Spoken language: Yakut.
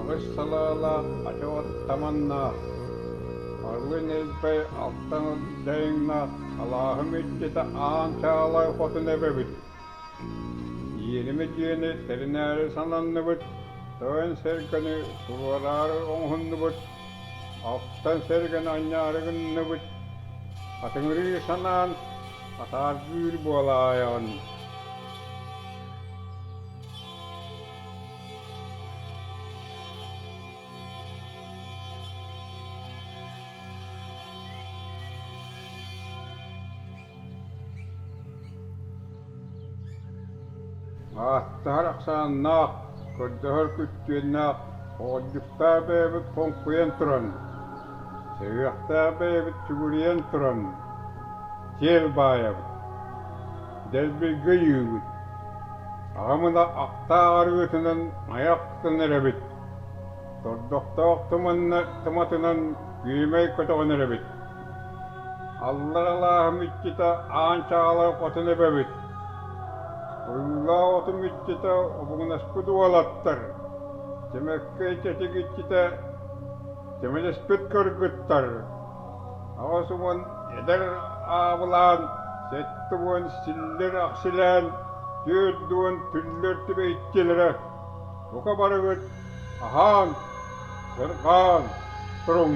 Аҕыс салаалаах ачаҕыт таманнаах, Барлын Элбэй алтан дайыҥнаах алааһым иччитэ аан чаалай хотун эбэбит. Иэнимэ дьиэни тэринээри сананныбыт, тойон сэргэни туруораары оҥоһуннубут, Оттон сэргэн анньаары гынныбыт, атыҥырыы санаан атааргыыр буолаайаҕын Ааттаһар ахсааннаах, көрдөһөр күттүөннээх оҕолдьуктаах бэйэбит хоҥкуйан туран, сөһүөхтээх бэйэбит сүгүрүйэн туран, сиэл баайабыт, дэлбиргэ өйүүбүт. Аҕамына ахтаа арыытынан айах тутан эрэбит, тордохтоох туматынан күөмэй көтөҕөн эрэбит. Алларалааһым иччитэ аан чаҕалаах отун эбэбит. Ойуулаах отум иччитэ обугунаспыт уолаттар. Тимэккэй тэтик иччитэ тимэлэспит кыргыттар. Аҕыс уон эдэр аабылаан сэттэ уон силлир-ахсилээн түөрт уон түллэр түбэйчилэрэ. Бука барыгыт аһаан, сырҕаан туруҥ!